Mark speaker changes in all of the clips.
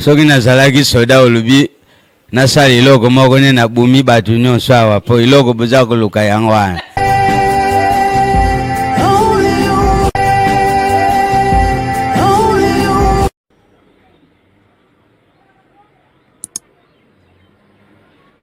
Speaker 1: soki nazalaki soda olobi nasala eloko moko nde nabumi bato nyonso awa mpo eloko boza koluka yango wana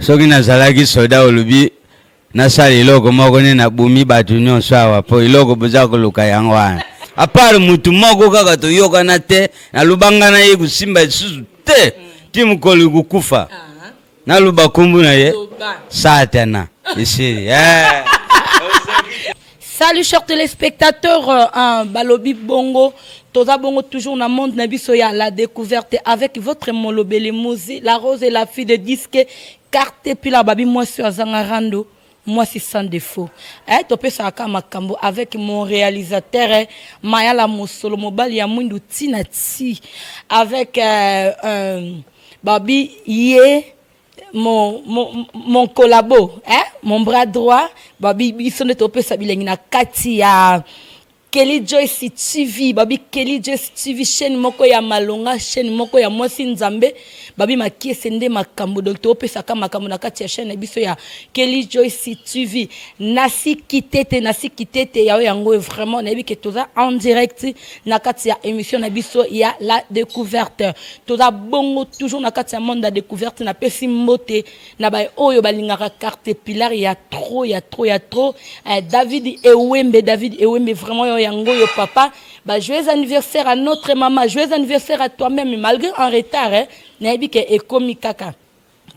Speaker 1: soki nazalaki soda olobi nasala eloko moko nde nabumi bato nyonso awa mpo eloko boza koluka yango wana apart motu moko kaka toyokana te nalobanga na ye kosimba lisusu te ti mokolo kokufa naloba nkombo na ye satana esili eh.
Speaker 2: Salut chers téléspectateurs, euh, hein, Balobi Bongo, Toza Bongo toujours dans le monde Nabiso ya la découverte avec votre Molobele Mouzi, la rose et la fille de disque, carte et puis la babi moi sur Azangarando, moi c'est sans défaut. Eh, topé ça à Makambo avec mon réalisateur eh, Maya la Mosolo Mobali ya Mwindu Tinati avec euh, euh, Babi Ye mon, mon, mon collabo hein? mon bras droit babi biso nde topesa bilengi na kati ya kelly joyce tv babi kelly joyce tv chaîne moko ya malonga chaîne moko ya mwasi nzambe babi makiese nde makambo donc topesaka makambo na kati ya chaîne na biso ya kelly joyce tv nasi kitete nasi kitete yayo yango vraiment nayebi ke toza en direct na kati ya émission na biso ya la découverte toza bongo toujours na kati ya monde ya découverte napesi mbote na baye oyo balingaka carte pilar ya trop ya trop ya trop eh, david ewembe david ewembe vraiment yo yango yo papa ba joyeux anniversaire à notre maman joyeux anniversaire à toi-même malgré en retard eh, nayebi ke ekomi kaka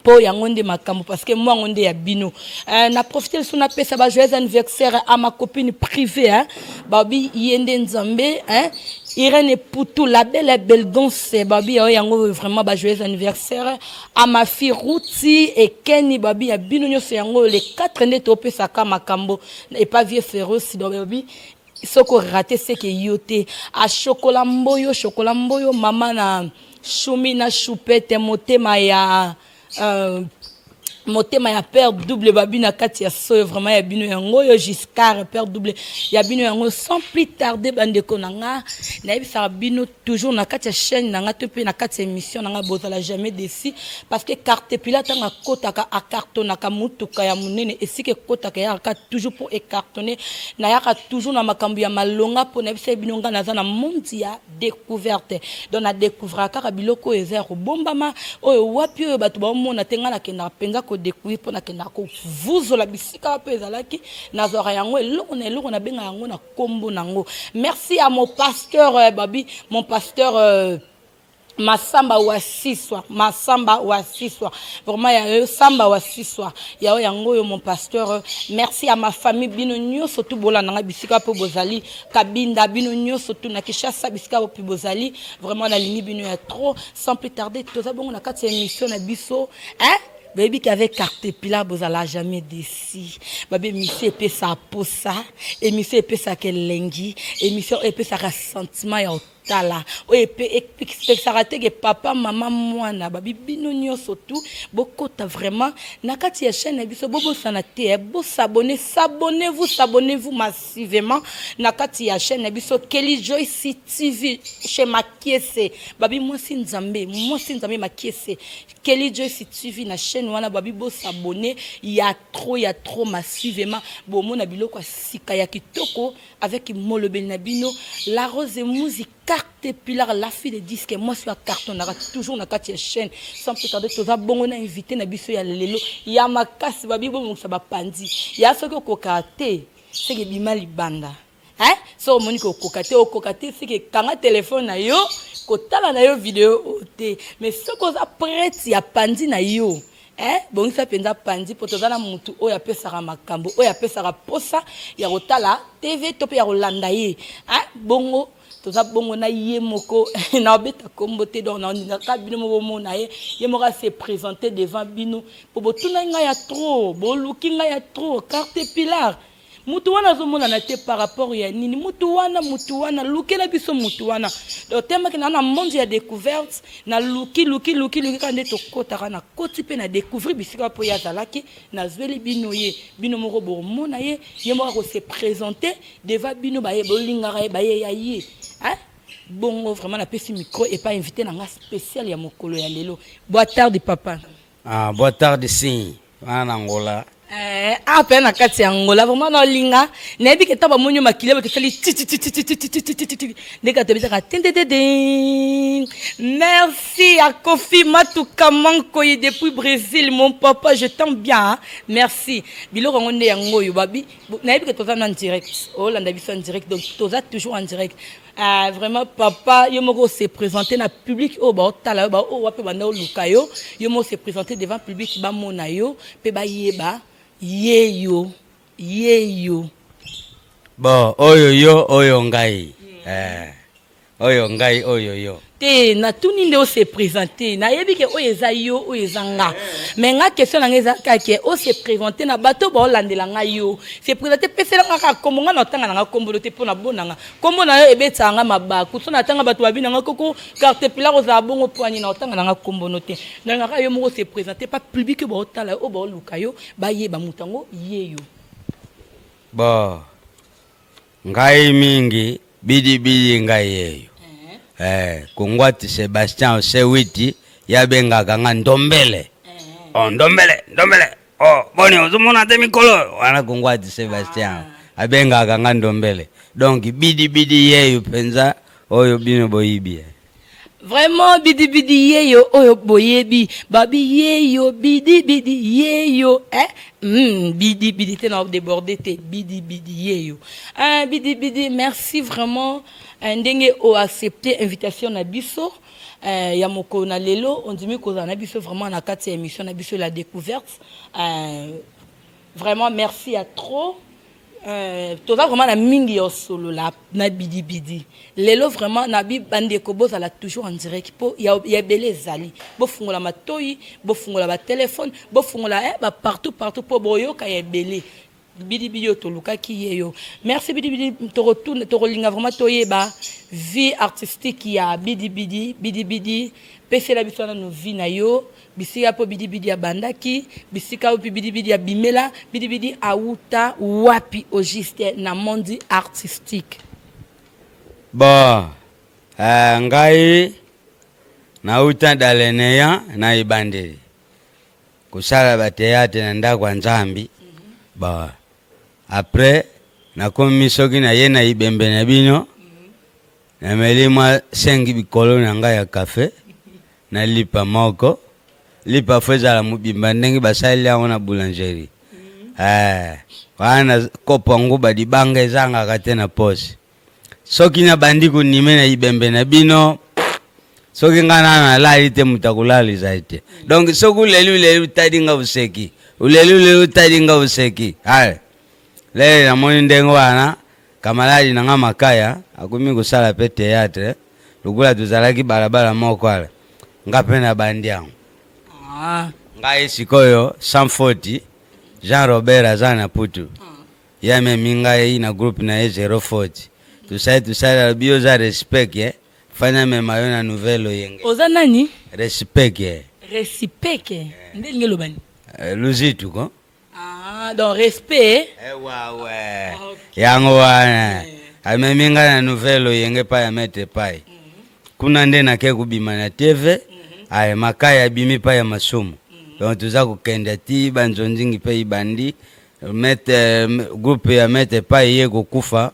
Speaker 2: po yango nde makambo parce que mwango nde ya bino euh, na profite lisu napesa ba joyeux anniversaire à ma copine privée hein? babi ye nde nzambe hein? irene putu la belle belgonce babi yao yango vraiment ba joyeux anniversaire à ma fille ruti ekeni babi ya bino nyonso yango le 4 nde topesaka makambo epa vie féroce donc babi soki orate seke yo te ashokola mboyo shokola mboyo mama na shumi na shupete motema ya uh, motema ya père double babi na kati ya soyo vraiment ya bino yango oyo giscard père double ya bino yango sans plus tarde bandeko na nga nayebisaka bino toujours na kati ya chaîne na nga to mpe na kati ya émission na nga bozala jamais déçu parce que cartepila ntango akotaka akartonaka motuka ya monene esika ekotaka eyaka toujours mpo ekartone nayaka toujours na makambo ya malonga mpo na biso bino ngai naza na monde ya découverte donc na découvraka kaka biloko oyo eza ya kobombama oyo wapi oyo bato baomona te ngai nakendaka mpenza kodecouvrir mpo nakendaka kovuzola bisika wapi ezalaki nazwaka yango eloko na eloko nabenga yango na kombo nango merci à mon pasteur euh, babi mon pasteur euh, masamba wa siswa masamba wa siswa vraiment ya yo samba wa siswa ya yo yango oyo mon pasteur merci ya ma famille bino nyonso tu bolanda ngai bisika mpe bozali kabinda bino nyonso tu na kishasa bisika opi bozali vraiment nalingi bino ya trop sans plus tarder toza bongo na kati ya émission na biso hein boyebi ke avec cartepila bozala jamais desi babi emission epesa posa emission epesaka elengi emission oyo epesaka sentiment ya otala oyo epekisaka te ke papa mama mwana babi bino nyonso tu bokota vraiment na kati ya chaîne na biso bobosana te bosabone sabone vous sabone vous massivement na kati ya chaîne na biso kelly joyce tv chez makiese babi mwasi nzambe mwasi nzambe makiese Kelly Joyce TV na chaîne wana babi bo s'abonner ya trop ya trop massivement bomona biloko ya sika ya kitoko avec molobeli na bino la rose muzi carte pilar la fille de disque moi sur carton na toujours na kati ya chaîne sans plus tarder toza bongo na invité na biso ya lelo ya makasi babi bo mongisa ba pandi ya soki okoka te seke bima libanda Hein? So omoni ko koka te, okoka te sike kanga telefone na yo, kotala na yo video oyo te. Mais soki oza prete ya panzi na yo, hein? Bongisa mpenza panzi mpo toza na mutu oyo apesaka makambo, oyo apesaka posa ya kotala TV to mpe ya kolanda ye. Hein? Bongo toza bongo na ye moko naobeta kombo te donc naoningaka bino moko bomona ye ye moko ase présente devant bino mpo botunaki ngai ya trop boluki ngai ya trop carte pilar mutu wana azomonana te par rapport ya nini mutu wana mutu wana lukela biso mutu wana otemaki na na monde ya découverte na luki luki luki luki kaka nde tokotaka na koti mpe na découvrir bisika mpo ye azalaki nazweli bino ye bino moko bomona ye ye moko akose présente devant bino baye bolingaka ye baye ya ye bongo vraiment napesi micro epa invité na nga spécial ya mokolo ya lelo boa tarde papa Ah, boa tarde
Speaker 1: sim. wana na angola eh, awa mpe
Speaker 2: na kati ya angola vraimen naolinga nayebi ke ntango bamoni yo makila bato esali titititititititititi ndenge bato ebetaka tendedede merci ya kofi matuka mankoyi depuis brésil mon papa je t'aime bien merci biloko yango nde yango oyo babi nayebi ke toza na direct olanda biso en direct donc toza toujours en direct Ah, vraiment papa yo moko se présenter na public oyo baotala yo baoyo wape banda oluka yo yo moko se présenter devant public bamona yo mpe bayeba ye yo ye yo
Speaker 1: bon oyo yo oyo ngai eh, oyo ngai oyo yo te natuni nde
Speaker 2: ose présente nayebi ke oyo eza yo oyo eza nga me nga question na nga eza kake ose présente na bato baolandela nga yo se présente pesela nga kaka kombo nga na otanga na nga kombolo te mpo na bona nga kombo na yo ebetaka nga mabaku so natanga bato babi na nga koko carte pilar ozala bongo poani na otanga na nga kombono te nalingaka yo moko ose présente pa public oyo baotala yo oyo baoluka yo bayeba moto yango ye yo
Speaker 1: ba Ngai mingi bidi bidi ngai yeyo eh, kungwati Sebastian Osewiti yabengaka nga ndombele eh. oh, ndombele ndombele oh, boni ozomona te mikolo wana kungwati Sebastian ah. abengaka nga ndombele donc bidi bidi yeyo mpenza oyo bino boyibi eh. Vraiment
Speaker 2: bidi bidi yeyo oyo boyebi babi yeyo bidi bidi yeyo eh mm, bidi bidi te na débordé te bidi bidi yeyo ah, bidi bidi merci vraiment eh, ndenge o accepter invitation na biso eh, ya mokolo na lelo ondimi kozala na biso vraiment na kati ya émission na biso la découverte eh, vraiment merci ya trop Euh, toza vraiment na mingi ya osolola na bidibidi lelo vraiment na bandeko bozala toujours en direct mpo ya ebele ezali bofungola matoi bofungola batelefone bofungola eh, bapartout partout mpo boyoka ya ebele bidibidi oyo tolukaki ye yo merci bidibidi tokotuna tokolinga vraiment toyeba vie artistique ya bidibidi bidibidi pesela biso nano vie na yo Bisika mpo Bidi Bidi abandaki, bisika opi Bidi Bidi abimela, Bidi Bidi awuta wapi au juste na monde artistique?
Speaker 1: Bon, uh, ngai nauta daleneya na ebandeli kosala bateatre na ndako ya nzambi mm -hmm. bon après nakomi soki naye na ibembe na bino Nameli mwa 5 bikolo na ngai ya kafe na lipa moko. Lipa fo ezala mobimba ndenge basaleli yango na boulangerie. Eh, wana kopo yango badibanga ezangaka te na posi. Soki nabandi konime na ibembe na bino soki nga nana nalali te moto akolala ezali te donc soki oleli oleli otali nga oseki oleli oleli otali nga oseki ale lele namoni ndenge wana Kamaladi na nga Makaya akomi kosala pe theatre lokola tozalaki balabala moko ala nga pe na bandi yango ah. ngai sikoyo sans faute Jean Robert aza na putu ah. ye amemi ngai na groupe na ye zero faute tosali tosali alobi yo oza respect ye fani amema yo na nouvelle oyenge oza nani
Speaker 2: respect ye
Speaker 1: respect ye nde
Speaker 2: lingi elobani eh, luzitu ko
Speaker 1: Ah, donc
Speaker 2: respect. Eh, ouais, ouais. Ah, okay.
Speaker 1: Yango wana. Eh. Amemi nga na nouvelle oyenge pa ya mete pai. Mm -hmm. Kuna nde nake kobima na TV. Mm -hmm. Aye makai abimi pa ya masumu. Mm -hmm. Donc toza kokenda ti banzonzingi pe ibandi. Mete groupe ya mete pai ye kokufa.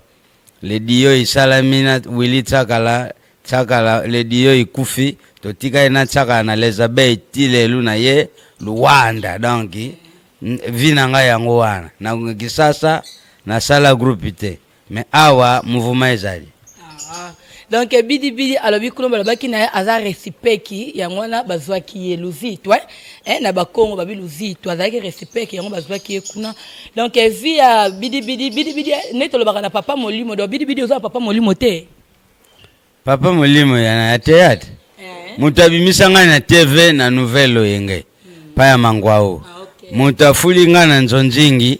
Speaker 1: Le Dio esalami na Willy Tsakala, Tsakala le Dio ekufi, totikali na Tsakala na les abeilles ti lelo na ye Luanda. Donc vie na ngai yango wana na Kisasa nasala groupe te, mais awa mouvement ezali.
Speaker 2: donc bidibidi alobi kuno balobaki na ye aza resipeki yango wana bazwaki ye luzitwa eh, na bakongo babi luzitwa azalaki resipeki yango bazwaki ye kuna donc vi ya bidibidi bidibidi nde tolobaka na papa molimo donc bidibidi oza na papa molimo te papa
Speaker 1: molimo ya na ya teyatre eh. moto abimisa ngai na tv na nouvelle oyenge hmm. pa ya mangwao ah, okay. moto afuli ngai na nzonzingi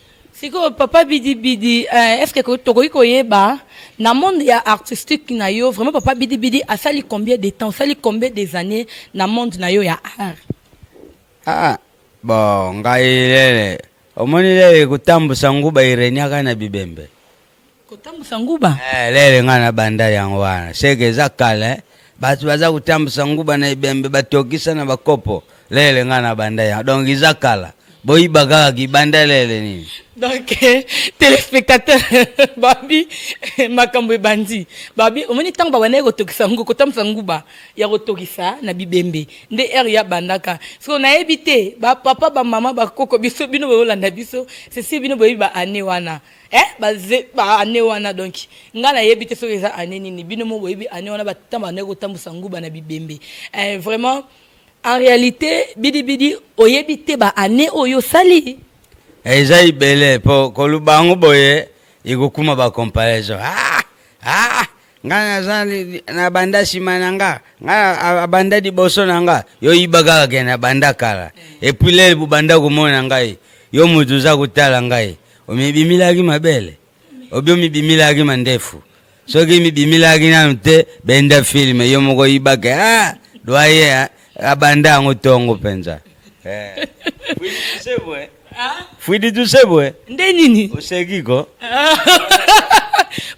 Speaker 1: Sikoyo
Speaker 2: papa bidi bidi eh, est-ce que tokoki koyeba na monde ya artistique na yo vraiment papa bidi bidi asali combien de temps asali combien des années na monde na yo ya art ah bon
Speaker 1: ngai lele omoni lele kotambusa nguba ireniaka na bibembe kotambusa
Speaker 2: nguba eh, lele nga na
Speaker 1: banda yango wana seke eza kala eh. bato baza kotambusa nguba na ebembe batokisa na bakopo lele nga na banda yango donc eza kala boyiba kaka kibanda lele nini donc eh,
Speaker 2: téléspectateur babi eh, makambo ebandi babi omoni ntango babandaki kotokisa ngo kotambusa nguba ya kotokisa na bibembe nde ere ya bandaka soko nayebi te bapapa bamama bakoko biso bino boyolanda biso sesi bino boyebi baane wana eh ba ba année wana donc nga na yebi te soki eza année nini bino mo boyebi année wana batata banda kotambusa nguba na bibembe eh, vraiment en réalité bidi bidi oyebi te ba année oyo sali eh, eza
Speaker 1: ibele po koluba yango boye ekokuma ba comparaison ah ah nga naza na banda nsima na nga nga abanda liboso na nga yo yiba kaka ke na banda kala epuis lele bobanda komona ngai yo moto oza kotala ngai omibimilaki mabele obi omibimilaki mandefu soki mibimilaki nanu te benda filme yo moko yibake ah, doye ah, abanda yango tongo mpenza eh. fwidi tusebwe nde nini oseki
Speaker 2: ko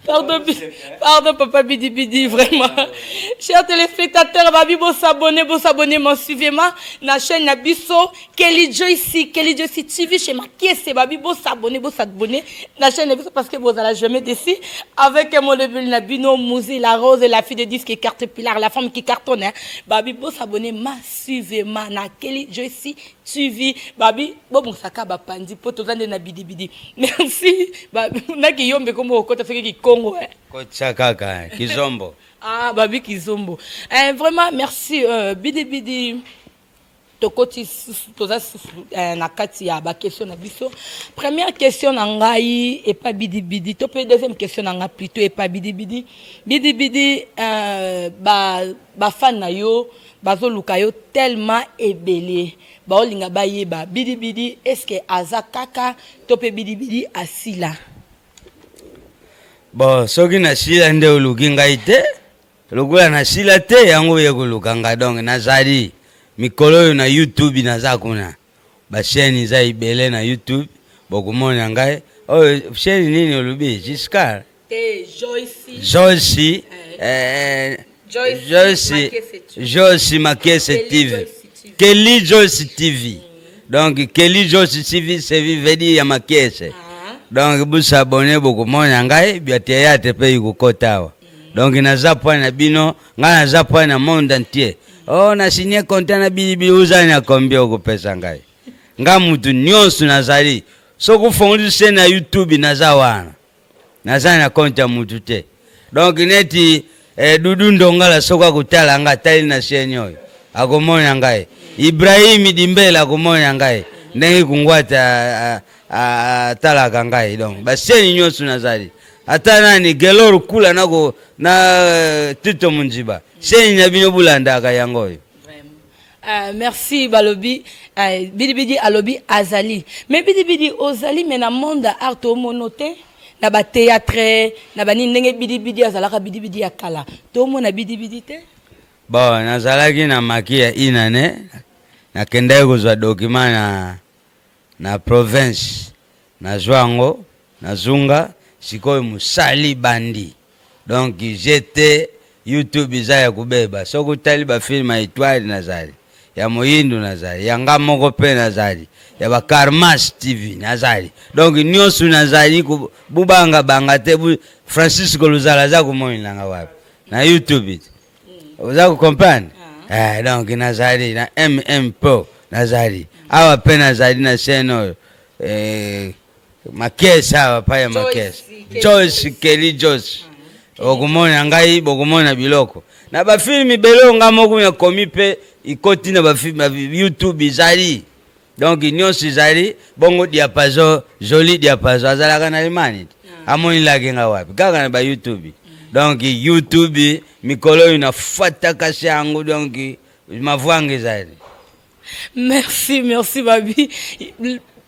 Speaker 1: Pardon,
Speaker 2: pardon, papa Bidi Bidi, vraiment. Chers téléspectateurs, Babi, bon s'abonner, bon s'abonner, m'en suivez-moi, la chaîne Nabiso, Kelly Joyce, Kelly Joyce TV chez Makiese Babi, bo s'abonner, bo s'abonner la chaîne est parce que vous allez jamais déçu avec mon level Nabino, Mouzi, la rose, la fille de disque qui carte pilar, la femme qui cartonne. Hein. Babi, bo s'abonner, ma suivez ma na Kelly Joyce TV. Babi, bo bon saka ba pandi po to zande na bidi bidi. Merci. Babi, na ki yombe komo okota soki ki Congo. Hein. Kocha kaka,
Speaker 1: kizombo. ah, Babi
Speaker 2: kizombo. Eh, vraiment merci euh, bidi bidi. tokoti susu toza susu eh, na kati ya bakestion na biso première question na ngai epa bidibidi to mpe deuxième question na ngai plutôt epa bidibidi bidibidi eh, bafane ba na yo bazoluka yo tellement ebele baolinga bayeba bidibidi estce aza kaka to mpe bidibidi asila
Speaker 1: bon soki nasila nde oluki ngai te Lokola na sila te yango oye koluka nga donc na zali mikolo oyo na YouTube na za kuna ba chaîne za ibele na YouTube bokomona ngai oyo oh, chaîne nini olubi Giscard te Joyce Joyce eh, eh, eh Joyce Joyce Makese TV Kelly Joyce TV mm. donc Kelly Joyce TV c'est vivedi ya Makese ah. donc bosabone bokomona ngai bia teyate mpe ikokota awa donc naza pwani na bino ngai naza pwani na monde entier o oh, na signe konta na bilibili ozali na kombie okopesa ngai ngai motu nyonso nazali soki ofongoli se na youtube naza wana naza na konte ya motu te donk neti eh, dudu ndongala soki akotala ngai atali na siene oyo akomona ngai ibrahimi dimbele akomona ngai ndenge kungwata atalaka ngai donc baseni nyonso nazali ata nani gelor kula nako na euh, tito monziba seni na bino bolandaka yango oyo Uh,
Speaker 2: merci balobi uh, bidibidi alobi azali me bidibidi ozali me na monde ya art omono te na bateatre na banini ndenge bidibidi azalaka bidibidi ya kala tomona bidibidi te bon
Speaker 1: nazalaki na maki ya inane nakendaki kozwa dokima na Na province nazua yango na zunga sikoyo musali bandi donc GT YouTube eza ya kobeba soki otali ba film ya etoile nazali ya moyindo nazali ya nga moko pe nazali ya ba karmas TV nazali donc nionso nazali bubanga banga te bu Francisco Luzala aza komonela nga wapi na YouTube oza kocomprendre ah. eh, donc nazali na mm po nazali awa mpe nazali na chaine oyo eh, makese awa pa ya makese jos keli jos ah, okomona ngai bokomona biloko na bafilme ebele oyo ngai moko nakomi mpe ikoti na youtube ezali donc nyonso ezali bongo diapason joli diapason azalaka na limani te ah. amoni laki nga wapi kaka na bayoutube mm. donc youtube mikolo oyo nafatakasi yango donc mavwanga ezali
Speaker 2: merci merci babi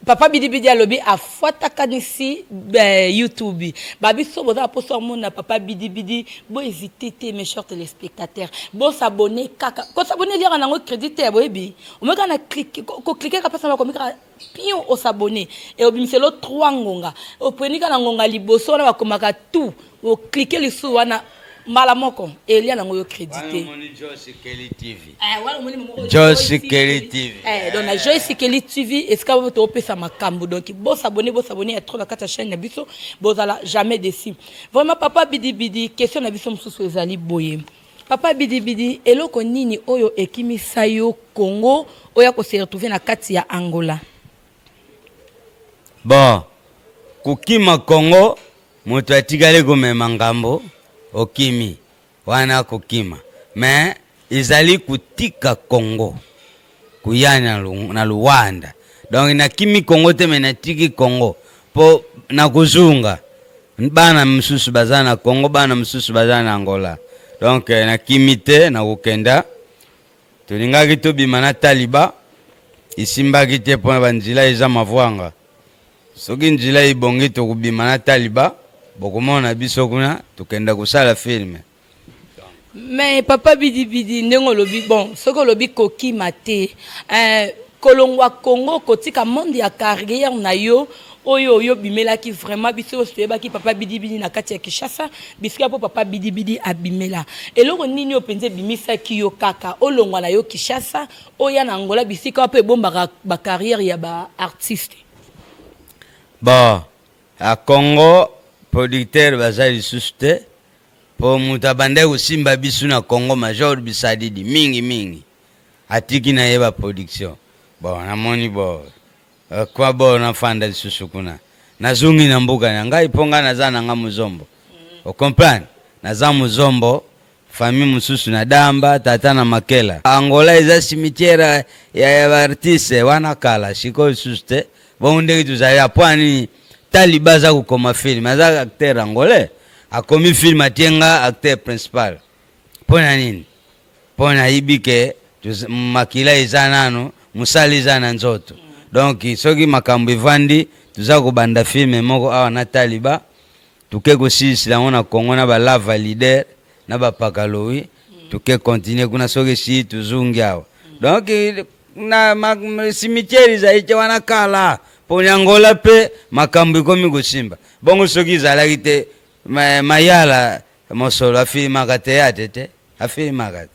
Speaker 2: papa bidibidi alobi afuatakanisi eh, youtube babiso boza baposo amona papa bidibidi boezite te mes chers téléspectateurs bosabone kaka kosabone eliaka nango crédit te ya boyebi omoi kaka na koklike kaka mpasi na bakomi kaka pion osabone e obimiselo 3 ngonga oponi kaka na ngonga liboso wana bakomaka tout oklike lisusu wana mbala moko elia nango yo crédite
Speaker 1: eh,
Speaker 2: joyce kelly
Speaker 1: tv eh, donc na joyce
Speaker 2: kelly tv esika bo topesa makambo donc bosabone bosabone ya trop na kati ya chaîne na biso bozala jamais déci vraiment papa bidibidi question na biso mosusu ezali boye Papa bidi bidi eloko nini oyo ekimi sayo congo oya ko se retrouver na kati ya angola.
Speaker 1: Bon kokima congo moto atikali komema ngambo okimi wana kokima mais ezali kotika congo. koya na, na Luanda donc nakimi Congo te me natiki Congo mpo nakozonga bana mosusu baza na Congo bana mosusu baza na Angola donc eh, nakimi te nakokenda tolingaki tobima na taliba esimbaki te mpo na banzela eza mavwanga soki nzela ebongi tokobima na taliba bokomona biso kuna tokenda kosala filme
Speaker 2: mais papa bidibidi ndenge olobi bon soki olobi kokima te eh, kolongwa congo kotika monde ya carrière na yo oyo oyo obimelaki vraiment biso oyo toyebaki papa bidibidi na kati ya kinshasa bisika mpo papa bidibidi abimela eloko nini oyo mpenza ebimisaki yo kaka olongwa na yo kinshasa oya na angola bisika wapo ebombaka bacarrière ya baartiste
Speaker 1: ba A Congo producteur baza lisusu te po mutu abandaki kosimba bisu na Congo major bisadidi mingi mingi atiki na ye ba production bon namoni bo euh, kwa bo nafanda lisusu kuna nazongi na mboka na ngai po ngai naza na ngai muzombo o comprendre naza muzombo Famille mususu na Damba, tata na Makela. Angola eza cimetière ya ya ba artistes wana kala, sikoyo lisusu te. Bongo ndenge tozali ya mpo ya nini Taliba aza kokoma film? Aza acteur angolais, akomi film atie nga acteur principal. Mpo na nini? Mpo nayibi ke toz- makila eza nano, mosala eza na nzoto. Donc soki makambo evandi, toza kobanda film moko awa na Taliba. Toke kosilisila yango na Congo na ba lava leader na ba pakalowi toke continuer kuna soki si tozongi awa donc na cimetière ezali te wana kala mpo na Angola mpe makambo ekomi kosimba bongo soki ezalaki te mayala mosolo afilimaka teyate te afilmaka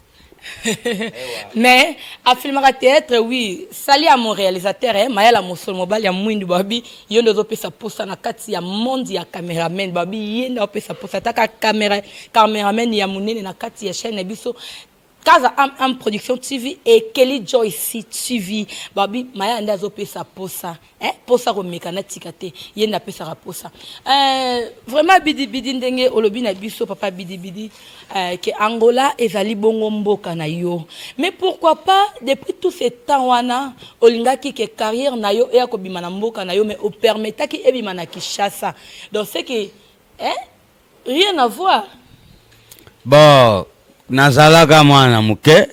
Speaker 2: mais afilmaka theatre oui sali ya mon réalisateur eh, mayala mosolo mobali ya mwindu babi yo nde ozopesa posa na kati ya monde ya cameraman babi ye nde opesa posa ataka camera cameraman ya monene na kati ya chaîne na biso kaza am am production tv ekeli joyce tv babi mayala nde azopesa posa Eh, posa komeka natika te ye nde apesaka posa eh, vraiment bidibidi ndenge olobi na biso papa bidibidi eh, ke angola ezali bongo mboka na yo mais pourquoi pas depuis tout ce temps wana olingaki ke carrière na yo eya kobima na mboka na yo mais opermetaki ebima na kinshasa donc ce que eh, rien à voir
Speaker 1: bon nazalaka mwana moke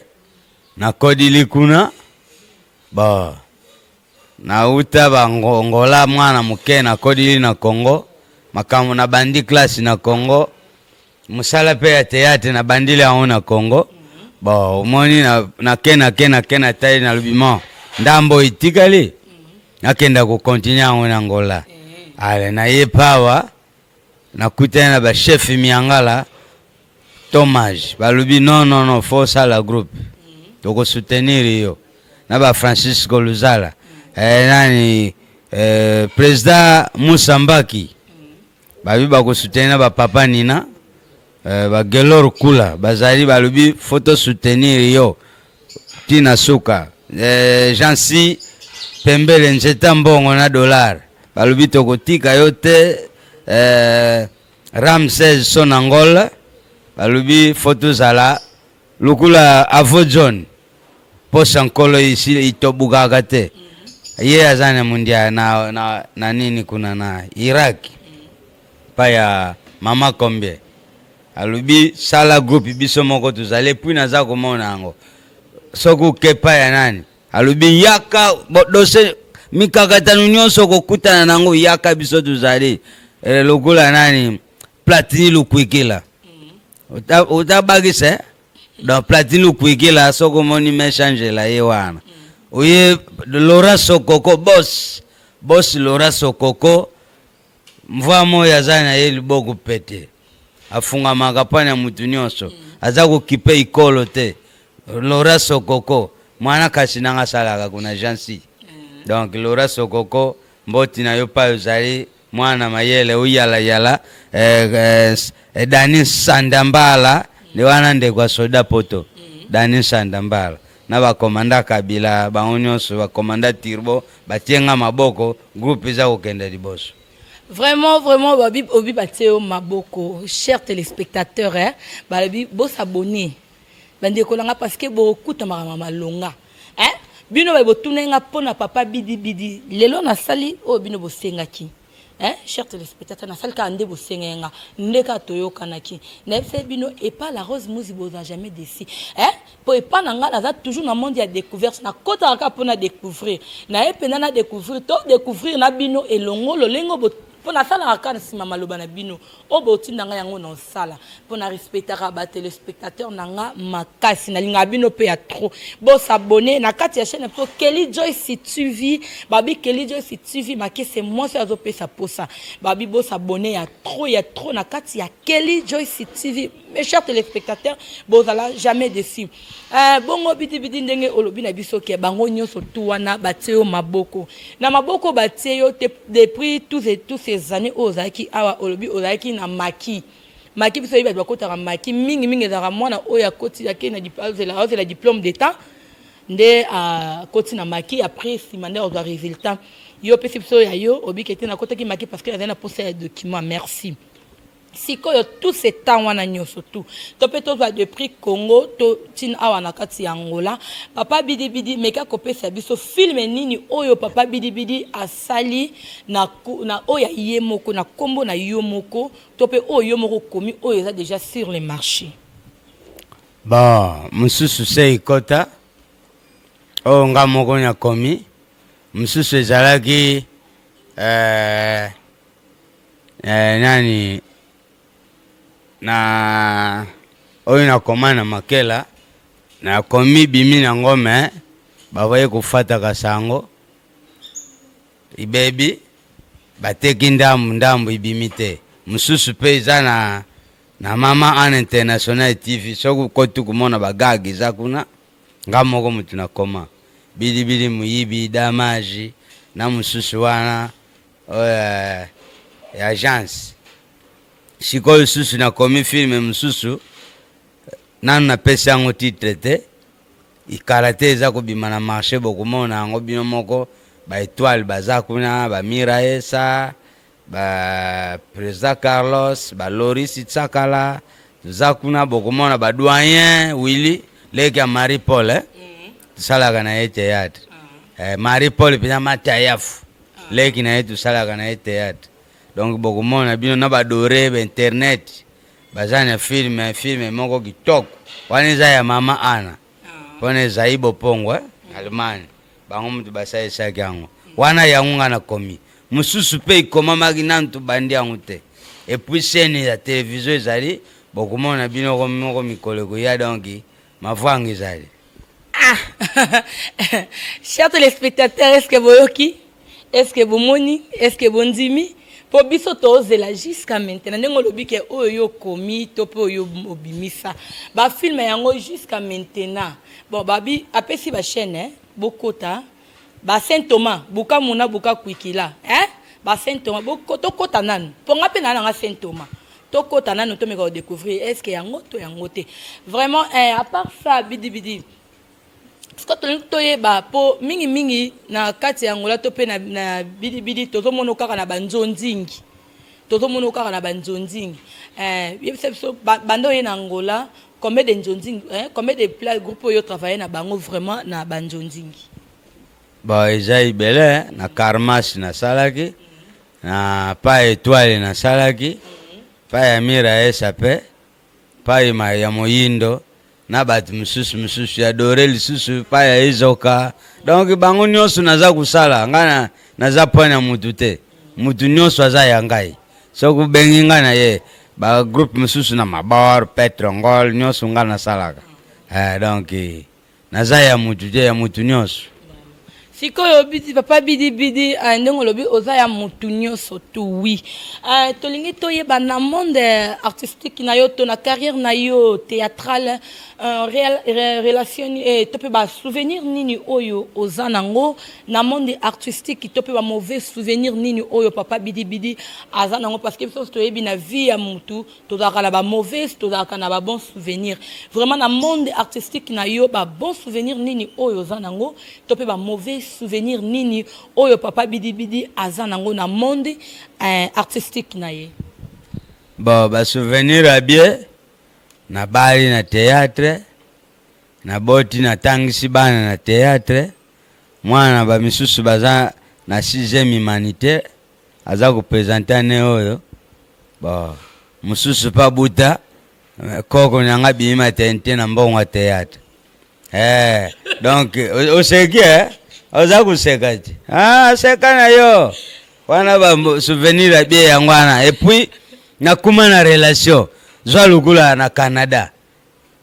Speaker 1: nakodili kuna bon Nauta ba Angola mwana moke nakolili na Congo makambo na bandi classe na Congo mosala mpe ya théâtre na bandili yango na Congo bon omoni nake nake nake natali nalobi mo ndambo etikali nakenda kokontinue yango na Angola ale naye pawa nakutani na bachef miangala Tomage balobi non non non faut sala groupe toko soutenir yo na ba Francisco Luzala eh, nani eh, président Moussa Mbaki babi bako soutenir na ba papa Nina eh, ba Gelor Kula bazali balobi faut to soutenir yo tina suka eh, Jansi pembele nzeta mbongo na dollar balobi tokotika yo te eh, Ramses Sonangol alobi fo tozala lokola avo John posa nkolo isi itobukaka te ye aza na mundia na, na, na nini kuna na Irak pa ya mama combien alobi sala groupe biso moko tozali puis naza komona yango soki okepa ya nani Alobi yaka dose mikakatano nyonso okokutana nango yaka biso tozali eh, lokola nani platini lukwekela otabakisa eh? donc platini lukwekela soki omoni mechangela ye wana oye lora sokoko bos bos lora sokoko Mvua moyi aza na ye liboku pete. Afungamaka pona ya mutu nionso. Aza ko kipe ikolo te. Laura Sokoko muana kasi nanga asalaka kuna Jeancy. Donc Laura Sokoko mboti na yo payi ozali muana mayele oyala yala eh, eh, Dani Sandambala nde wana ndeko ya soda poto. Dani Sandambala na ba commanda kabila bango nionso ba commanda turbo batie nga maboko groupe eza kokende liboso. Vraiment,
Speaker 2: vraiment, babi, obi bateo maboko, chers téléspectateurs, hein, balobi, bo s'abonner, bande kolanga, parce que bo kuta marama malonga, hein, bino ba botuna nga pona papa bidi bidi, lelo na sali, oh bino bo senga ki. Eh, cher téléspectateur, na salka ande bosenga yanga, ndeka toyoka naki. Na epse bino epa la rose muzi boza jamais déçu. Eh, po epa na nga naza toujours na monde ya découverte, na kota ka pona découvrir. Na epe na na découvrir to découvrir na bino elongo lolengo bo pona sala ka na sima maloba na bino. Oyo botinda nga yango na osala po na respectaka ba telespectateurs na nga makasi na lingaka bino pe ya trop bo s'abonner na kati ya chaîne na biso Kelly Joyce TV babi Kelly Joyce TV makese mwasi oyo azo pesa posa babi bo s'abonner ya trop ya trop na kati ya Kelly Joyce TV Mes chers téléspectateurs, bozala jamais déçu. Euh, bongo bidi bidi ndenge olobi na biso ke bango nyoso tout wana batie yo maboko. Na maboko batie yo depuis tous et tous ces années oyo ozalaki awa olobi ozalaki na maki. Maki biso yebi bato bakotaka maki mingi mingi ezalaka mwana oyo akoti ake na azela azela diplôme d'état nde akoti na maki après nsima nde ozwa résultat. Yo pesi biso ya yo obike te nakotaki maki parce que azali na posa ya document. Merci. sikoyo tout ce temps wana nyoso tout to pe tozwa de prix Congo to tin awa na kati ya Angola papa bidi bidi meka kopesa biso film nini oyo papa bidi bidi asali na na oyo ye moko na kombo na yo moko to pe oyo yo moko komi oyo eza déjà sur le marché
Speaker 1: bon mususu se ikota oyo nga moko na komi mususu ezalaki euh, eh, nani na oyo nakoma na makela nakomi bimi na ngo me bakoki kofataka sango ibebi bateki ndambu ndambu ibimi te mosusu mpe eza na na mama an international tv soki okoti komona bagage eza kuna nga moko motu nakoma bilibili moyibi damage na mosusu wana Euh, ya agence sikoyo lisusu nakomi filme mosusu nanu napesi yango titre te ikala te eza kobima na marché bokomona yango bino moko baetoile baza kuna bamira esa bapresident carlos baloris tsakala toza kuna bokomona badoyen willi leki ya marie paul eh? tosalaka na ye théâtre mm. eh, marie paul mpenza matayafu leki na ye tosalaka na ye théâtre donc bokomona bino na badore ba internet baza na filme filme moko kitoko wana eza ya mama ana ah. mpona ezai bopongo eh? mm. allemagne bango moto basalisaki yango mm. wana yango ngai nakomi mosusu mpe ekomamaki nanu tobandi yango te epuis sene ya televizio ezali bokomona bino moko mikolo ekoya donki Mavanga ezali. Ah
Speaker 2: Chers téléspectateurs, est-ce que boyoki? Est-ce que bomoni? Est-ce que bondimi? mpo biso tozela jusqu'à maintenant ndenge olobi ke oyo yo okomi to mpe oyo obimisa bafilme yango jusqu'à maintenant bon babi apesi bachaîne bokota eh? ba saint thomas buka muna buka kwikila eh? ba saint thomas tokota nanu mpo nga mpe naa nanga saint thomas tokota nanu tomeka kodécouvrir est ce que yango to yango te vraiment eh, à part ça bidibidi sikoyo tolingi toyeba mpo mingimingi na kati ya angola to mpe na, na bidibidi tozomono kaka na banzonzingi tozomono kaka na banzonzingi eh, yebisa biso banda oye na angola Combien de nzonzing hein? Combien de plat groupe oyo travailler na bango vraiment na ba nzonzingi? Bon,
Speaker 1: eza ebele hein? na Karmas nasalaki na pa Etoile nasalaki pa ya Mira Esape pa ma ya Moyindo na bato mosusu mosusu ya Dore lisusu pa ya Ezoka donc bango nyonso naza kosala ngai na- naza point na mutu te mutu nyonso aza ya ngai Soki obengi nga na ye ba groupe mosusu na mabor petre ngol nyonso nga nasalaka eh, donc naza ya mutu te ya mutu nyonso sikoyo
Speaker 2: bidi papa bidi bidi uh, eh, ndenge olobi oza ya mutu nyonso tu wi uh, eh, tolingi toyeba na monde artistique na yo to na carrière na yo théâtrale uh, real, re, relation eh, to mpe basouvenir nini oyo oza nango na monde artistique to pe ba mauvais souvenir nini oyo papa bidi bidi aza nango parce que biso toyebi na vie ya mutu tozalaka na ba mauvais tozalaka na ba bon souvenir vraiment na monde artistique na yo ba bon souvenir nini oyo oza nango to pe ba mauvais souvenir nini oyo papa bidi bidi aza nango na monde euh, artistique na ye bon
Speaker 1: ba souvenir ya bien na bali na théâtre na boti na tangisi bana na théâtre Mwana na ba misusu baza na sixième humanitaire aza ko presenter annee oyo ba mususu pa buta koko na nga bimi maternité na mbongo ya théâtre eh donc oseki eh oza koseka ti ah seka na yo wana ba souvenir ya bie yango wana et puis nakuma na relation zwa lukula na Canada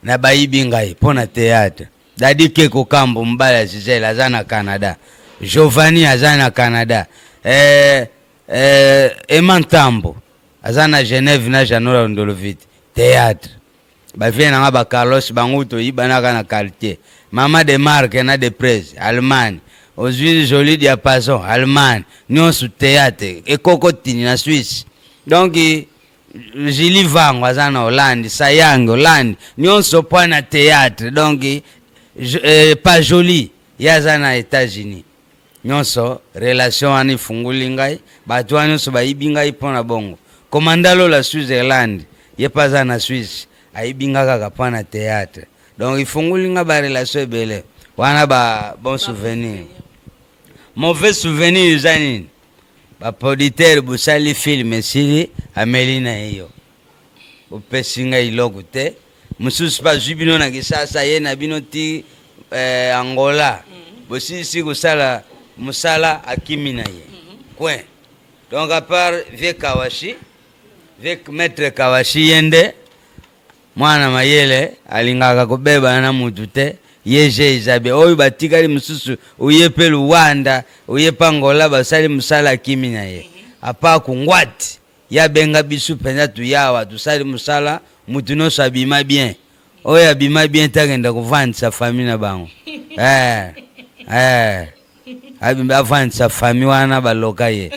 Speaker 1: na bayibi ngai mpo na theatre dadi keko kambo mobali ya gisele aza na canada giovanni aza na canada eh, eh, ema ntambo aza na genève na janola londolovite theatre bavie na nga ba carlos bango toyibanaka na quartier mama de marke na de prese allemagne ozwi joli diapason allemagne nyonso theatre ekokotini na swisse donc Julie Vango aza na Hollande, Sayang Hollande, nionso po na théâtre. Donc euh, pas joli ye aza na États-Unis. Nionso relation wana ifunguli ngai, bato wana nionso bayibi ngai po na bongo. Komanda Lola Switzerland, ye pe aza na Suisse, ayibi ngai kaka po na théâtre. Donc ifunguli ngai ba relation ebele. Wana ba bon souvenir. Mauvais souvenir eza nini? Ba producteur bosali film esili ameli na ye yo. Opesi nga iloko te. Mosusu pa zwi bino na Kisasa ye na bino ti eh, Angola. Mm-hmm. Bosilisi kosala mosala akimi na ye. Mm-hmm. Coin. Donc à part Vieux Kawashi, Vieux Maître Kawashi yende Mwana mayele alingaka kobebana na mutu te ye jeu eza bien oyo batikali mususu oye pe luanda oye pe angola basali musala akimi na ye apart kunguati ye abenga bisu penza toye awa tosali musala mutu nionso abima bien oyo abima bien te akenda kovandisa famille na bango eh eh abimbi avandisa fami wana baloka ye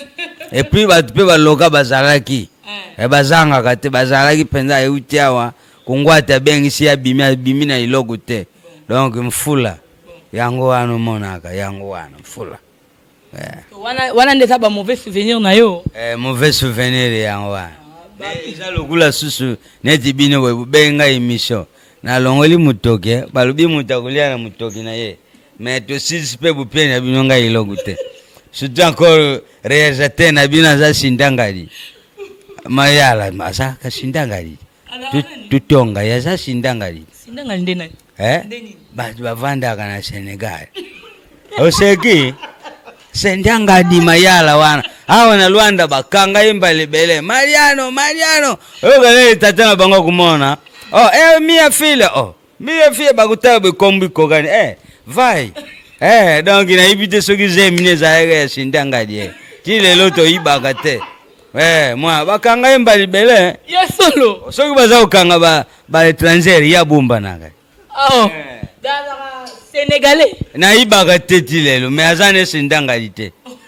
Speaker 1: epuis bato mpe baloka bazalaki eh. eh, bazangaka te bazalaki mpenza euti awa kongwate abengisi ye abimi abimi na eloko te donc mfula yango wana omonaka yango wana mfula eh.
Speaker 2: wana, wana nde eza ba mauvais souvenir na yo eh, mauvais souvenir
Speaker 1: yango wana ah, eza lokola susu neti bino boye bobenga emission nalongoli motoki balobi moto akolia na motoki na ye mais tosilisi mpe bopie na bino ngai eloko te surtout encore réalisateur na bino aza sindangadi mayala azalaka sindangadi tutonga ye aza sindangadi
Speaker 2: eh?
Speaker 1: bato bavandaka na sénégal oseki sindangadi mayala wana awa na lwanda bakanga ye mbala ebele mariano mariano oyokanele tata na bango kumona oh, eh, mia file oh. Mbiye fie bakutaka bikombo ikokani eh, vai eh, donc nayebi te soki zemi ne ezalaka ya sindanga die ti lelo toyibaka te eh, mwa bakanga ye mba libele eh. ya solo
Speaker 2: soki baza kokanga ba,
Speaker 1: ba étranger ya bombanaka oh.
Speaker 2: eh. sénégalais nayibaka
Speaker 1: te ti lelo me aza ne sindanga li te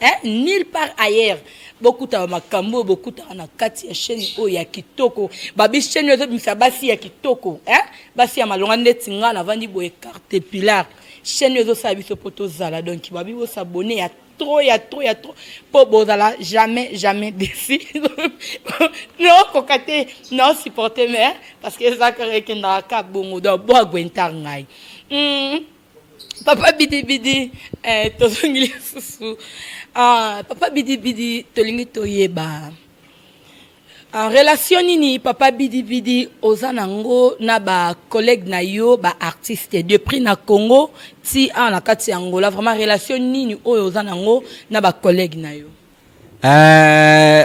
Speaker 2: eh, nil par ailleurs bokutaka makambo oyo bokutaka na kati ya chaîne oyo ya kitoko babi chaîne oyo ezobimisa basi ya kitoko eh? basi ya malonga ndeti ngai navandi boye carte pilar chaîne oyo ezosala biso mpo tozala donc babi bosabone ya trop ya trop ya trop mpo bozala jamais jamais desi naokoka te naosupporte mais parce que ezaka ekendaka ka bongo donc boagwentar ngai mm. papa bidibidi eh, tozongi lisusu ah, papa bidibidi tolingi toyeba ah, relation nini papa bidibidi oza nango na bacollègue na yo baartiste depuis na congo ti awa na kati ya angola vraiment relation nini oyo oza nango na bacollègue na yo eh,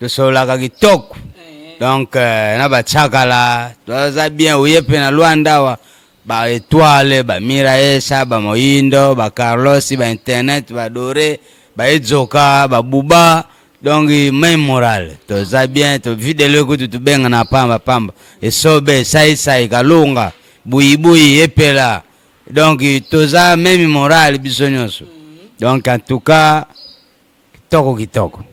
Speaker 1: tosololaka kitoko donc euh, na bachakala toza bien oye mpe na lwanda awa ba etoile ba miraesa ba moyindo ba carlos ba internet ba dore ba edzoka ba buba donc main moral toza bien tovidelo ekutu tobenga na pamba pamba esobe saisai kalunga buyibuyi epela donc toza meme moral biso nyonso donc en tout cas Kitoko kitoko.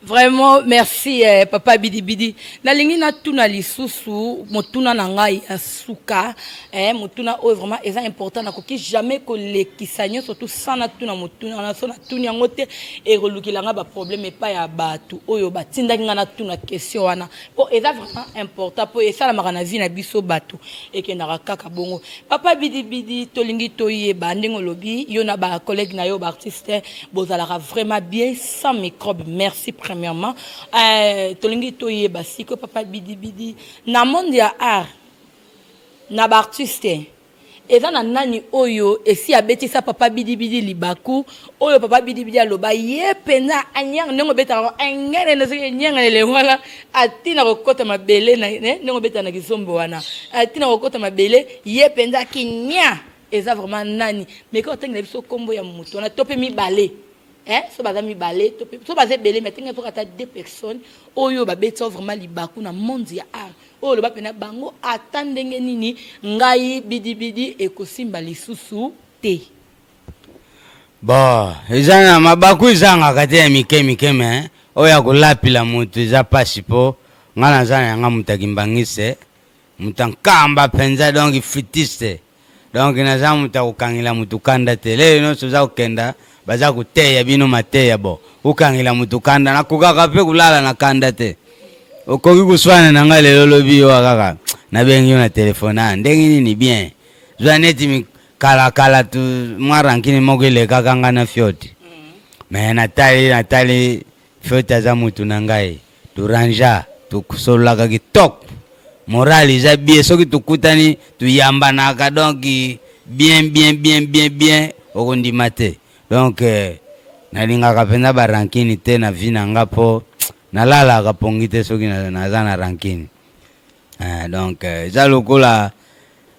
Speaker 2: Vraiment merci eh, papa bidibidi nalingi natuna lisusu motuna na ngai ya suka eh, motuna oyo vraiment eza important nakoki jamais kolekisa nyonso tu sans natuna motuna na so natuni yango te ekolukela ngai baproblème epai ya bato oyo batindaki ngai natuna question wana po eza vraiment important po esalamaka na vie na biso bato ekendaka kaka bongo papa bidibidi tolingi toyeba ndenge olobi yo na ba collègue na yo baartiste bozalaka vraiment bien sans microbe merci premièrement euh, tolingi toyeba siko papa bidibidi na monde ya art na baartiste Eza na nani oyo esi abetisa papa bidi bidi libaku oyo papa bidi bidi aloba ye penza anyang ndenge obetaka ngo engene na soki enyanga na elengo wana atina kokota mabele na ne ndenge obeta na kizombo wana atina kokota mabele ye penza kinya eza vraiment nani meka otangela biso kombo ya moto wana to pe mibale eh so baza mibale to pe so baza ebele mais atengela soki ata deux personnes oyo babetisa vraiment libaku na monde ya art oyo loba pena bango ata ndenge nini ngai bidibidi ekosimba lisusu te bo
Speaker 1: eza na mabaku ezangaka te ya mike mike me oyo ya kolapila moto eza mpasi mpo ngai naza na yanga moto akimbangise moto ankamba mpenza donk fitiste Donc naza moto ya kokangela moto kanda te. Lelo nyonso oza kokenda baza koteya bino mateya bo okangela moto kanda. Nakokaka mpe kolala na kanda te. Okoki koswana na ngai lelo lobi yo kaka nabengi yo na telefone ah, ndenge nini bien zwa neti kala kala tu mwa rankini moko elekaka ngai na fioti me mm. natali natali fioti aza motu na ngai Duranja tosololaka kitok moral eza bie soki tokutani toyambanaka donc bien bien bien bien bien okondima te donc euh, nalingaka mpenza barankini te na vi na nga mpo nalalaka pongi te soki naza na rankini Eh, donc eh, eza lokola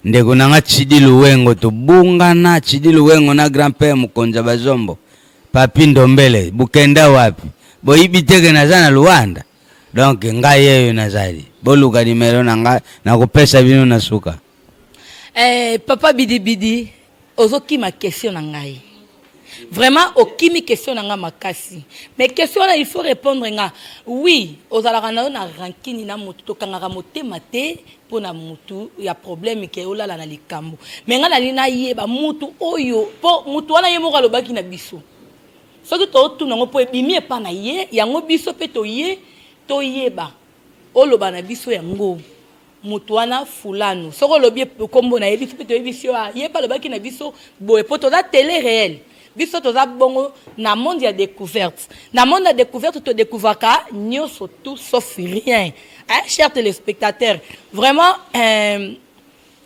Speaker 1: ndeko na nga Chidi Luwengo tobungana Chidi Luwengo na grand père Mukonza Bazombo Papi Ndombele bukenda wapi boyibi teke naza na Luanda donc ngai yeyo nazali boluka nimero na nga nakopesa bino na suka eh,
Speaker 2: papa bidibidi ozokima question na ngai vraiment okimi question na nga makasi mais question wana il faut répondre nga oui ozalaka na yo na rankini na motu tokangaka motema te mpo na motu ya problème ke olala na likambo mais nga nalingi nayeba motu oyo mpo motu wana ye moko alobaki na biso soki tootuna yango mpo ebimi epa na ye yango biso mpe toye toyeba oloba na biso yango moto wana fulanu soki olobi kombo na ye biso mpe toyebisi yo ah, ye mpe alobaki na biso boye mpo toza tele réel biso toza bongo na monde ya découverte na monde ya découverte todécouvraka nyonso tout sauf rien hein, cher téléspectateur vraiment euh,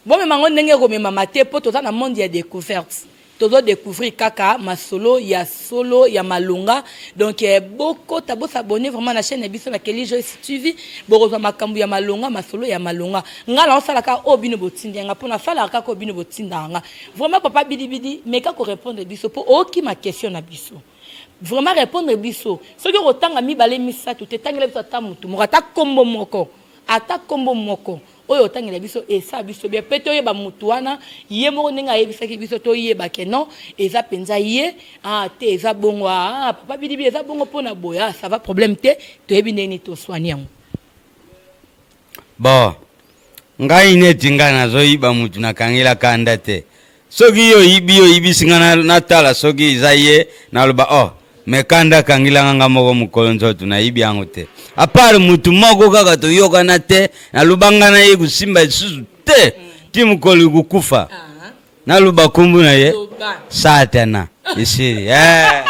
Speaker 2: bomema yango ndenge ekomemama te mpo toza na monde ya découverte Tozo decouvrir kaka masolo ya solo ya malonga donc eh, bokota bo s'abonner vraiment na chaîne biso na Kelly Joyce TV bokozwa makambo ya malonga masolo ya malonga nga na osala ka o bino botindi nga pona sala ka ko bino botinda nga vraiment papa bidi bidi meka ko répondre biso po oki ma question na biso vraiment répondre biso soki okotanga mibale misato te tangela biso ata mutu moko ata kombo moko ata kombo moko oyo otangela biso esa biso bien mpe toyeba motu wana ye moko ndenge ayebisaki biso toyeba ke non eza mpenza ye ah, te eza bongo ah, ah papa bidibi eza bongo mpo na boya ah, ça va problème te toyebi ndenge nini toswani yango
Speaker 1: bon ngai neti ngai nazoyiba motu nakangelaka nda te soki yo oyibi yo oyibisi nga na- natala soki eza ye naloba oh me kanda akangilanga nga moko mokolo nzoto nayibi yango te apart motu moko kaka toyokana te naloba nga na ye kosimba lisusu te ti mokolo ikukufa naloba kombo na ye Loba. satana esili Eh.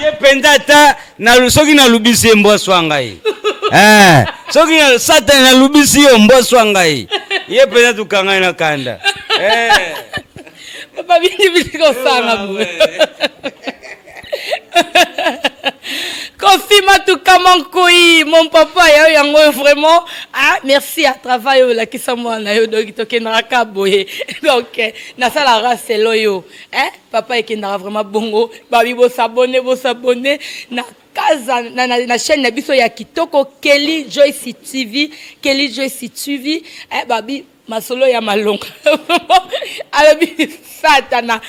Speaker 1: ye mpenza ata na soki nalubisi ye mbwa swa ngai eh, soki satani nalubisi yo mbwa swa ngai ye mpenza tokangai na kanda
Speaker 2: eh. babindi bili kosanga boye kofi matuka monkoi mon papa ya yo yango oyo vraiment ah merci ya travail oyo olakisa mwana na yo donki tokendaka boye donc nasala raselo yo eh? papa ekendaka vraiment bongo babi bosabone bosabone na kaza na, na, na chaîne na biso ya kitoko kelly joyce tv kelly joyce tv eh, babi masolo ya malonga alobi satana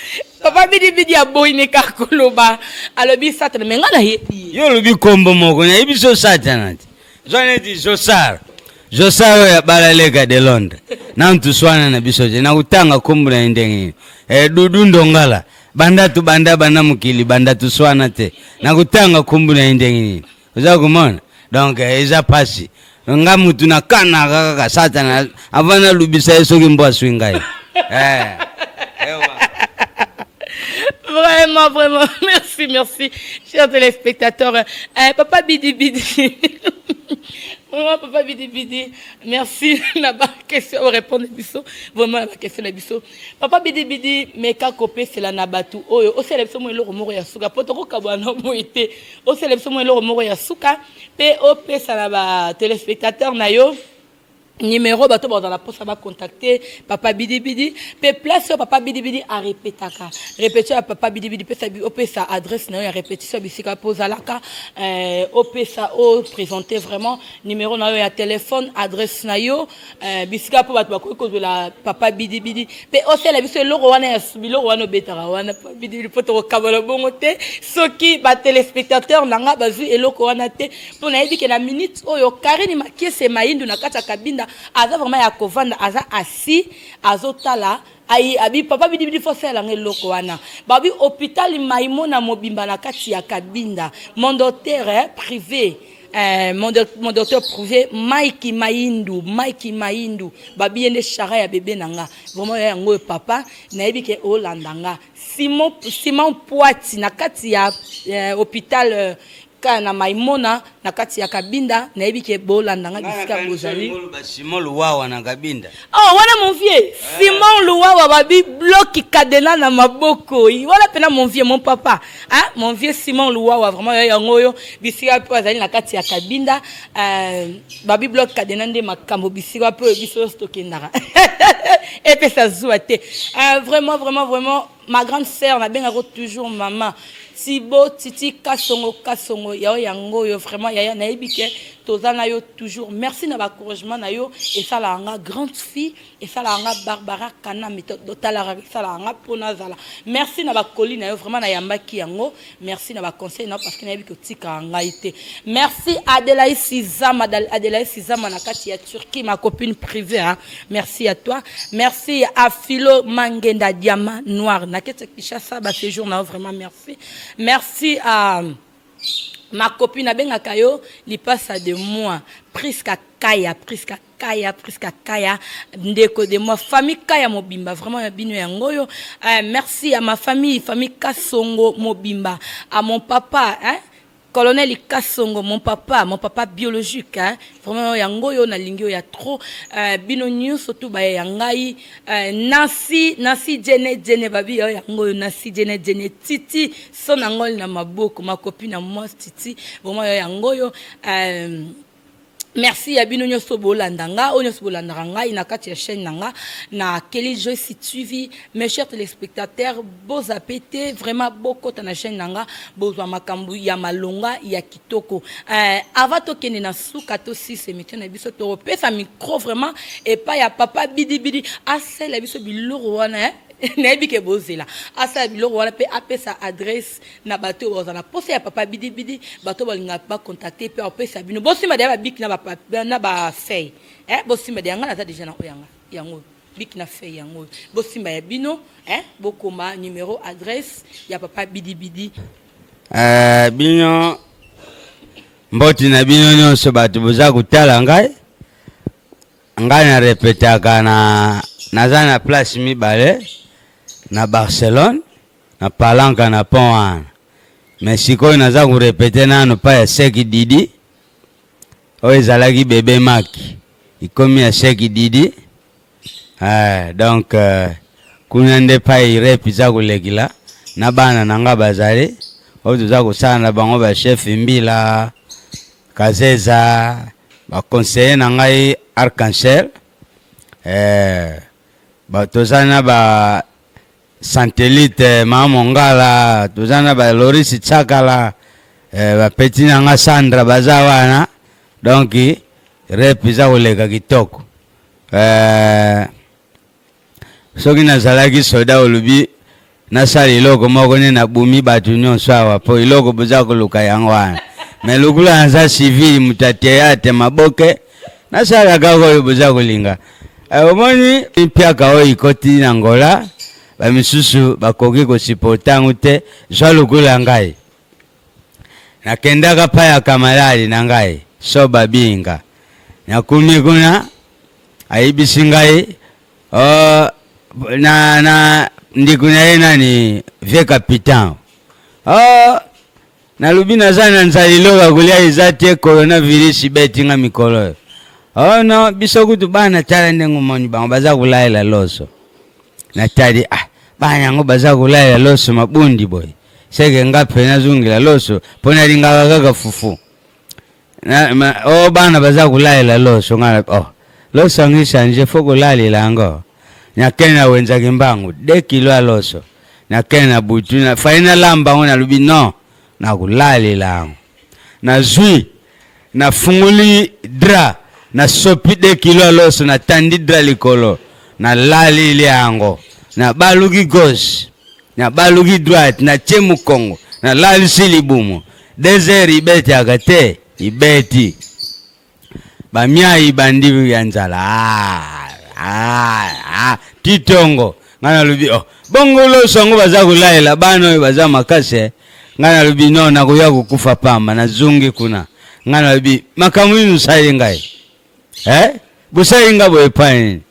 Speaker 2: papa bidibidi aboyi ne kaka koloba alobi satana me ngai nayebi yo olobi nkombo
Speaker 1: moko nayebi so satana te zwa neti josar josar oyo abala leka de londres nanu toswana na biso te nakotanga nkombo na ye ndenge nini e, dudu ndongala banda tobanda banda mokili banda toswana te nakotanga nkombo na ye ndenge nini oza komona donc eh, eza mpasi nga mutu na kanaka kaka satana avant nalubisa ye soki mbo aswi ngai eh.
Speaker 2: Vraiment, vraiment, merci, merci, chers téléspectateurs. Eh, papa Bidi Bidi. Vraiment, papa Bidi Bidi, merci na ba question au répondre biso. Vraiment na ba question na biso. Papa Bidi Bidi, mais ka kopé c'est la na batu oyo. O sele biso mo eloko moko ya suka. Poto ko kabwa na boite. O sele biso mo eloko moko ya suka. Pe o pesa na ba téléspectateurs na yo. numero bato baza na mposa bacontacte papa bidibidi mpe place oyo papa bidibidi arepetaka repetition ya papa bidibidi pesa opesa adresse na yo ya repetition ya bisika mpo ozalaka eh, opesa opresente vraiment numero na yo ya telefone adresse na yo eh, bisika mpo bato bakoki kozwela papa bidibidi mpe osala biso eloko wana ya biloko wana obetaka wana papa bidibidi mpo tokokabola bongo te soki batelespectateur na ngai bazwi eloko wana te mpo nayebi ke na minute oyo karine makiese maindu na kati ya kabinda aza vraiment ya kovanda aza asi azotala ayi abi papa bidibidi fo asalelanga eloko wana babi hôpital maimona mobimba na kati ya kabinda mon docteur eh, privé eh, mon, doc, mon docteur privé mike maindu mike maindu babi ye nde shara ya bebe na nga vraiment ya yango oyo papa nayebi ke olanda nga simon, simon poiti na kati ya eh, hôpital eh, kaka na maimona na kati ya kabinda nayebi ke bolanda nga bisika bozali simon luwawa
Speaker 1: na kabinda oh wana mon vieux
Speaker 2: eh. simon luwawa babi bloki kadena na maboko wana pena mon vieux mon papa hein? mon vieux simon luwawa vraiment yo yango oyo bisika mpe azali na kati ya kabinda euh, babi bloki kadena nde makambo bisika mpe oyo biso nyonso tokendaka epesa zuwa te euh, vraiment vraiment vraiment ma grande sœur nabengako toujours mama tibo titi kasongo kasongo yao yango oyo vraiment yaya nayebi ke toza na yo toujours merci na bacouragement na yo esalaka nga grande fille esalaka nga barbara kanami totalaka esalaka nga mpo nazala merci na bakoli na yo vraiment nayambaki yango Merci na ba conseil na parce que nayebi ko tika ngai te. Merci Adelaï Sizama Adelaï Sizama na kati ya Turquie ma copine privée hein. Merci à toi. Merci à Philo Mangenda Diamant Noir na kete Kinshasa ba séjour na vraiment merci. Merci à ma copine abengaka yo lipasa de moi Prisca Kaya Prisca kaya prisca kaya ndeko de moi famille kaya mobimba vraiment ya bino yango oyo eh, merci à ma famille famille kasongo mobimba à mon papa hein? colonel kasongo mon papa mon papa biologique hein? vraiment yango oyo nalingi oyo ya trop euh, bino nyonso tu baye ya ngai euh, nasi nasi jene jene babi oyo yango oyo nasi jene jene titi so na ngoli na maboko makopi na mwasi titi vraiment oyo yango oyo euh, Merci ya bino nyoso bolanda nga oyo nyoso bolandaka ngai na kati ya chaîne na nga na Kelly Joyce TV mes chers téléspectateurs boza pete vraiment bokota na chaîne na nga bozwa makambo ya malonga ya kitoko euh, avant tokende na suka tosisa émission na biso tokopesa micro vraiment epai ya papa bidibidi asala biso biloko wana eh? nayebi ke bozela asala biloko wana mpe apesa adresse na bato oyo bazala posa ya papa bidibidi bato balinga ba contacter pe opesa bino bosimba deya babiki na ba na ba feuille eh bosimba deya nga naza deja na oyo yanga yango biki na feuille yango bosimba ya bino eh bokoma numero adresse ya papa bidibidi uh, bino
Speaker 1: mboti na bino nyonso bato boza kotala ngai ngai na repetaka na naza na place mibale na barcelone na palanka na pont wana me sikoyo naza korepete nano pa ya seki didi oyo ezalaki bebe maki ikomi ya seki didi ah, donc uh, kuna nde pai rep eza kolekila na bana na nga bazali oyo toza kosala na bango bachef mbila kazeza baconseille na ngai arc-en-ciel eh, toza na ba Santelite, Mama Mongala, toza na ba Loris Tsakala, eh, ba petit na nga Sandra baza wana. Donc rep eza koleka kitoko. Eh, soki nazalaki soda olobi nasala eloko moko nde nabumi bato nyonso awa mpo eloko boza koluka yango wana me lokula naza civile moto ya teyate maboke nasala kaka oyo boza kolinga eh, omoni mpiaka oyo ikoti na ngola bamisusu bakoki kosiporta yango te zwa lokola ngai nakendaka mpa ya kamalali na ngai so babinga nakomi kuna ayebisi ngai oh, na, na ndeko na ye nani vie capitan oh, Nalobi naza na nzala eloko ya kolia eza te coronavirus ibeti nga mikolo oyo. Oh no, biso kutu bana tala ndenge omoni bango baza kolaela loso. Natali ah bana yango baza kolaela loso mabundi boye. Seke nga mpe nazongela loso mpo nalingaka kaka fufu. Na, ma, oh, bana baza kolalela loso nga na oh. Loso yango echange fo kolalela yango. Nakende na wenza kimbangu 2 kilo ya loso. Nakende na butu na fai na lamba yango nalobi non nakolalela yango. Nazwi nafungoli dra nasopi 2 kilo ya loso natandi dra likolo nalaleli yango nabaluki gauche nabaluki droite natie mokongo nalalisi libumu Desert ibetaka te ibeti bamia ibandi ya nzala ah, ah, ah. titongo ngai nalobi oh. bongo loso yango baza kolalela bana oyo baza makasi eh. ngai nalobi no nakoya kokufa pamba nazongi kuna ngai nalobi makambo nini osali ngai eh? bosali ngai boye epai nini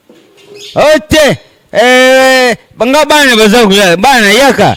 Speaker 1: o oh, te eh, nga bana baza kolala bana yaka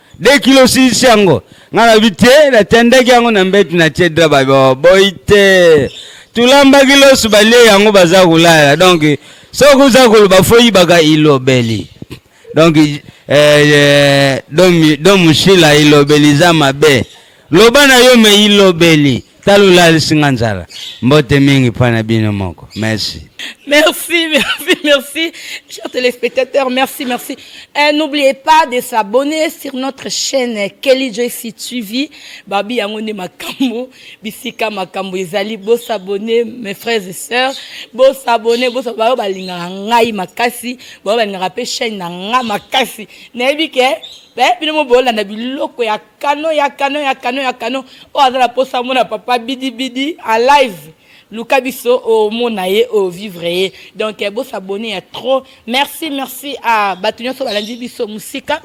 Speaker 1: de kilo osilisi yango nga na bi te natandaki yango na mbetu na tie dra baboyi te tulambaki loso balie yango baza kolala donc soki oza koloba foyibaka ilobeli donc eh, eh, don mushila ilobeli eza mabe loba na yo me ilobeli tala olalisi nga nzala mbote mingi mpo na bino moko merci merci merci merci
Speaker 2: chers téléspectateurs merci merci eh, n'oubliez pas de s'abonner sur notre chaîne kelly joyce tv babi yango nde makambo bisika makambo ezali bosabone mes frères et sœurs bosabone bosa bayo balingaka ngai makasi bayo balingaka mpe chaîne na ngai makasi nayebi ke eh, bino mo bolanda biloko ya kano ya kano ya kano ya kano oyo aza na mposa amona papa bidibidi en live luka biso omona ye ovivre ye donc bosabone ya trop merci merci a bato nyonso balandi biso mosika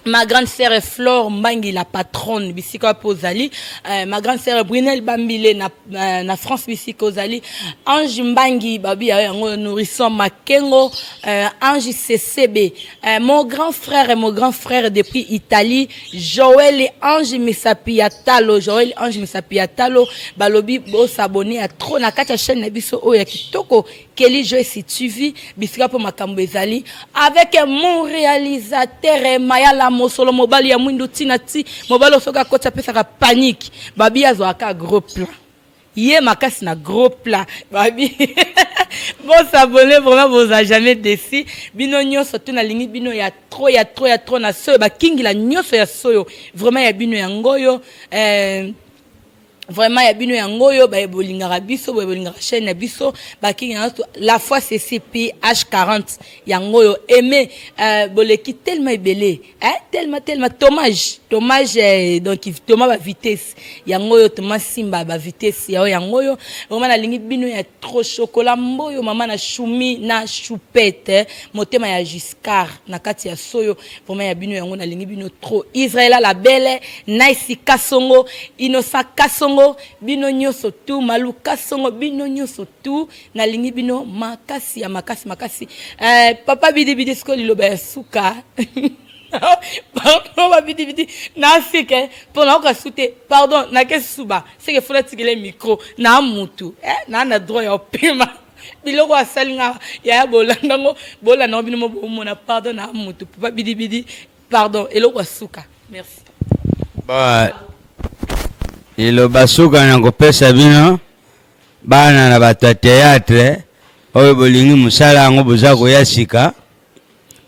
Speaker 2: ma grande sœur Flore Mbangi la patronne bisika wapi ozali euh, ma grande sœur Brunel Bambile na na, na France misika ozali Ange Mbangi babi ya yango nourrisson Makengo euh, Ange CCB euh, mon grand frère et mon grand frère depuis Italie Joël et Ange Misapi ya Talo Joël Ange Misapi ya Talo balobi bo s'abonner à trop na kati ya chaîne na biso oyo ya kitoko Kelly Joyce TV bisika mpo makambo ezali avec mon réalisateur eh, Mayala Mosolo mobali ya mwindu tina ti mobali oyo soki akoti apesaka panique babi azwaka gros plan ye makasi na gros plan babi bosabone vraiment boza jamais desi bino nyonso to nalingi bino ya trop ya trop ya trop na soyo bakingila nyonso ya soyo vraiment ya bino yango oyo eh, vraiment ya bino yango oyo baye bolingaka biso boye bolingaka chaîne na biso bakingi na la fois ceci ph 40 yango oyo aime euh, boleki tellement ebele hein? tellement tellement tomage tomage eh, donc toma ba vitesse yango oyo toma simba ba vitesse yao yango oyo vraiment nalingi bino ya trop chocolat mboyo mama na shumi na choupette motema ya giscard na kati ya soyo Vraiment ya bino yango nalingi bino trop. Israela la belle, Nice Kasongo, Inosa Kasongo, bino nyoso tout, Malu Kasongo, bino nyoso tout. Nalingi bino makasi ya makasi makasi. Euh, papa bidi bidi siko liloba ya suka. pardon babidi bidi naseke mpo nayoka su te pardon nakesi suba seke fula tikele micro na mutu eh, naa na droit ya opema biloko asali nga yaya bolanda ngo bolanda ngo bino mo bomona pardon na moto papa bidibidi pardon eloko ya suka merci ba
Speaker 1: eloba suka na kopesa bino bana na bato ya théâtre oyo bolingi mosala yango boza koya sika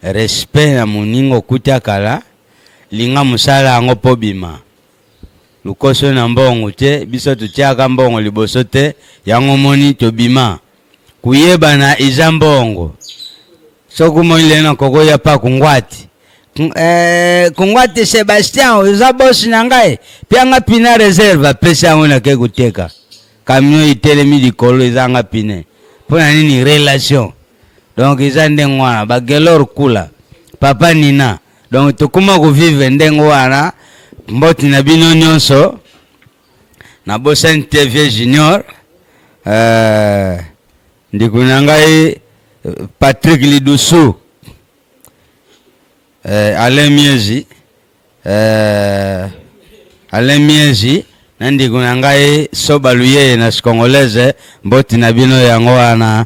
Speaker 1: respect na moninga okuta kala linga mosala yango pobima Lokoso na mbongo te biso totiaka mbongo liboso te yango moni tobima kuyebana eza mbongo soki omoni lelo na koko ya pa kungwati eh, kungwati Sebastian oza bosi na ngai pianga pina reserve apesi yango nake koteka kamio itelemi likolo ezanga pine mpo na nini relation donc eza ndenge wana bagelor kula papa nina donc tokoma kovivre ndenge wana mboti na bino nyonso na bosani te vieux junior euh, ndeko na ngai euh, patrick lidusu euh, alain miezi euh, alain miezi na ndeko na ngai soba luyeye na congolaise mboti na bino yango wana